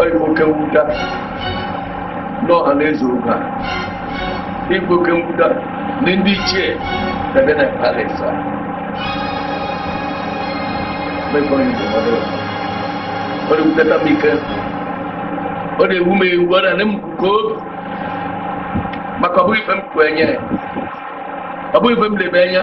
ọ bụ oke mwuta n'ọha na eze oge a ọ bụ oke mwuta na ndị ichie ebe na palace a mekọrọ igbu mmadụ ọ na-ewutata m ike ọ na-ewu m ewu ọ na-enye m nke obi maka ọ bụghị ife m kwenye ọ bụghị ife m lebe anya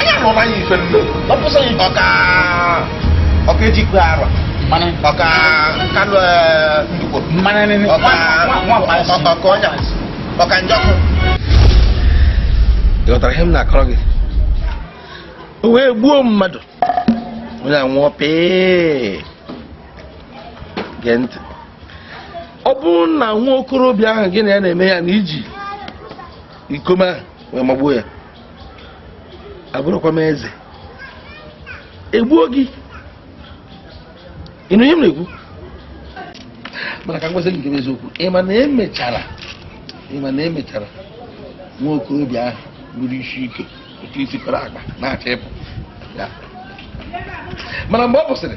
Anya rụrụ anyị ife nne. Ọ pụsị anyị. Ọka ọka ejikwe arọ. Mana Ọka kanụ ndukwo. mana ne ne. Ọka ọka ọnya. Ọka njọkụ. Ị ghọtara ihe m na-akọrọ gị? O wee gbuo mmadụ. Onye a nwụọ pii. Gee ntị. Ọ bụrụ na nwa okorobịa ahụ gị na ya na-eme ihe a na i ji iko mma ahụ wee magbuo ya. abụrụkwa m eze egbuo gị ị nụ ihe m na-ekwu mana ka m gwazi gị nke bụ eziokwu ị ma na e mechara ị ma na e mechara nwa okorobịa ahụ buru isi ike otu i si kọrọ akpa na-achọ igbu ya mana mgbe ọ kwụsịrị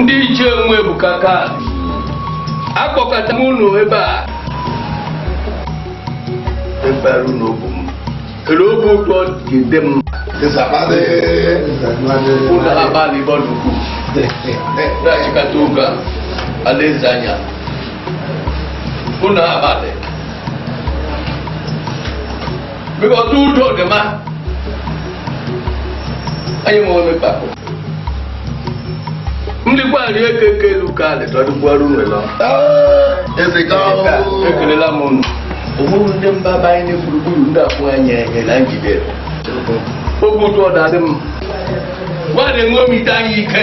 ndị ichie nwe ebuka ka akpọkọta m unu ebe a ebere unu bụ m kele oge ụtọ ga-ede m ụlọ abalị bọlụkwu na-achịkọta oge a alaeze anyị ụlọ abalị bikọta udo dị mma anyị ma onye kpakọ ndị gbalị eke eke elu ka alị tọdụkwara unu lọ ekelela m unu ụmụrụ ndị mba gba anyị gburugburu ndị abụọ anyị enye na njide oge ụtụ ọdadị m gbalị ṅomite anyị ike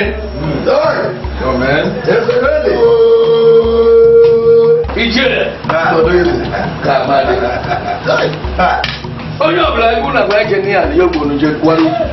ijere ka amadị onye ọbụla egwu na gwa eje n'ihe ala ya ogbonu je kwara ukwu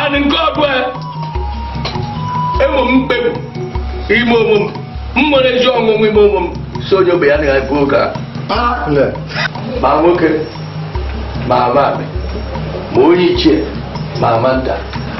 anị nke ọbụla enwe m mkpebi ime onwe m m nwere ezi ọṅụ ime onwe m sị onye ọbụla na-ebu oge a ma nwoke ma nwaanyị ma onye ichie ma nwa nta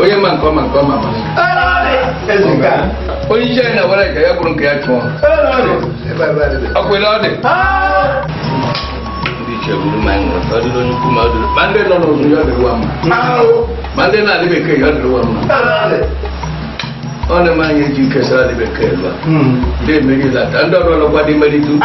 onye ma nke ọma nke ọma onye iche na were ka ya bụrụ nke ya chụọ ọkwele ọ dị ndị iche bụrụ ma nwere ọ dịrị onye ukwu ma ọ dịrị ma ndị nọ n'ụlọ ya dịrị wa mma ma ndị nọ n'alị bekee ya dịrị wa mma ọ na-eme anyị eji kesara dị bekee elu a ndị emeri lata ndị ọrụ ọlọkwa dị meri tupu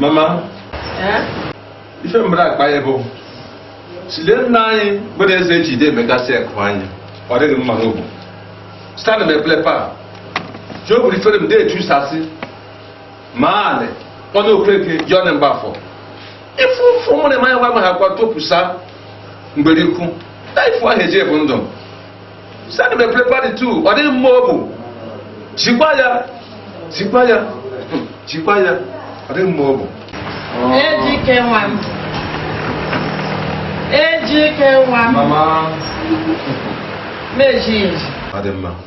mama ife m bịara akpa ya bụ sile nna anyị bụ na eze ji ide emegasị ekụ anyị ọ dịghị m mma n'obu stanụ m eblepa ji o buru ifere m na-eju sasị maale ọnụ okeke jọn mgbafọ ifu ụfụ mụrụ ma ya gwa ha kwa topusa mgbere ikwu na ifu ahụ eji ebu ndụ sani me prepare the two ọ dịghị mma obu jikwa ya jikwa ya jikwa ya ọ dịghị mma obu ejike nwa m ejike nwa m mama meji eji ọ dị mma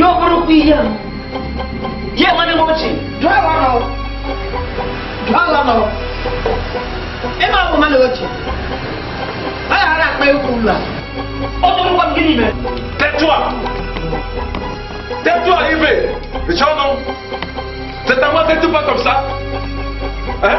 ya bụrụkwa ihe a ya nwanne m ochie jụọ ala nọ jụọ ala nọ ịma bụ mmadụ ochie a ghara akpa egwu ụlọ a ọ tụrụkwa m gịnị mere Tetua! Tetua ibe! Richọnụ! Teta nwa tetu bọtọm sa! Eh?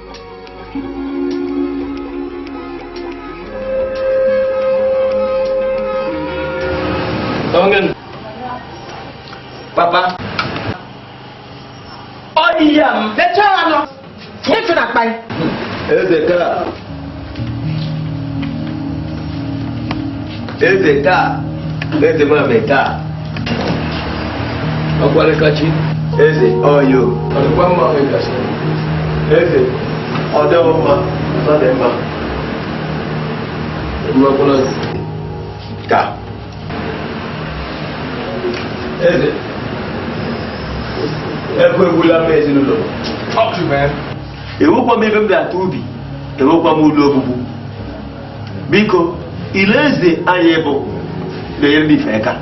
Tawagin. Papa. Ọ dị ya m. Lechaa anọ. Nyefe na akpa ya. Eze ka. eze taa eze mame taa ọkwarịkachi eze ọyo ọdịkwa mma ọmịkachi eze ọdịghị mma ọ dị mma mmakwụna taa eze ekwe egwula m ezinụlọ enwekwa m ebe m ga-ata ubi enwekwa m ụlọ obubu biko ile eze anyị bụ na-enyere m ife aka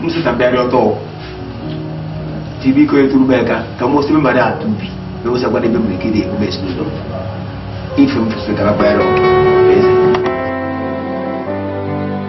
m sị ka m bịarịa ọtọ ti biko eturu m aka ka m osiri mmadụ ata ubi na ewesakwa n'ebe m nwere ike na-emume ezinụlọ ife m fụsịrị ka m bịara ọtọ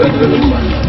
Thank you.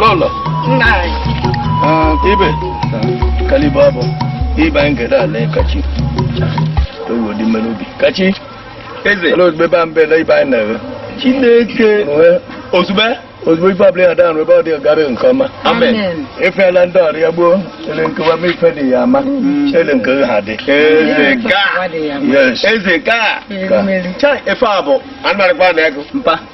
lọlọ ibe kalibu abụ ibe anyị gere ala kachi oyi odi mmerụ obi kachi Eze. Hello, ebe a mbe na ibe anyị na-ere. Chineke. Ozugbo. Ozugbo ife ọbụla ya daa nrụ ebe ọ dị ọgara nke ọma. Amen. Ifeela ndị ọrụ ya gboo ele nkewa ma ife dị ya ama. Mm. Ele nke ha dị. Eze ka. Yes. Eze ka. Ka. Efe a bụ anụmanụ kwa na ego. Mpa.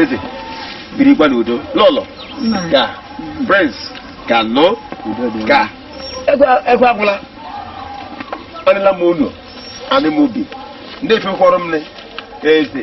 eze birikwa n'udo lọlọ ka prince ka nọ ka egwu agwụla adịla m unu anị m obi ndị efekwọrọ m eze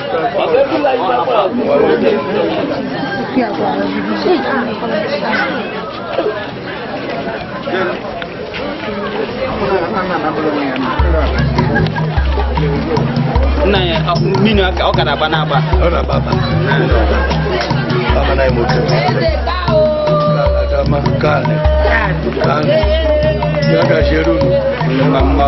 nna ya mmiri ọ gara agba n'agba ọ na-agba agba na imoto adama kane kane ya gajeru mma mma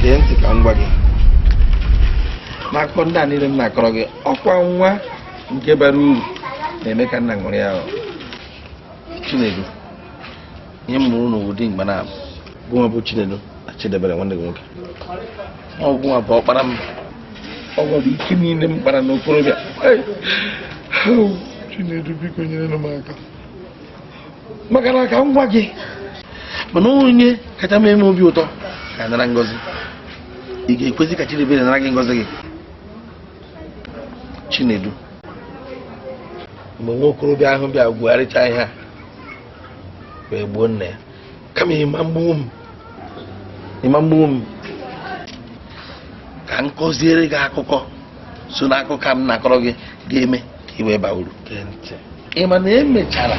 gee ntị ka m gwa gị n'akụkọ ndị a niile m na-akọrọ gị ọ kwa nwa nke bara uru na-eme ka nna ṅụrịa chinedu ihe m mụrụ n'ụwa dị abụọ gụnwa bụ chinedu na chidiebere nwanne gị nwoke ọ gụnwa bụ ọkpara m ọ gụ bụ ike niile m kpara n'okorobịa chinedu biko nyerenụ m aka maka na ka m gwa gị mana onye kacha m eme obi ụtọ ga-anara ngozi ị ga-ekwezi ka Chidiebere nara gị ngozi gị Chinedu mgbe nwa okorobịa ahụ bịa gwugharịcha ihe a wee gbuo nna ya kama ịma mgbuwo m ịma mgbuwo m ka m kọziere gị akụkọ so na akụkọ m na-akọrọ gị ga-eme ka ị wee baa uru ị ma na emechara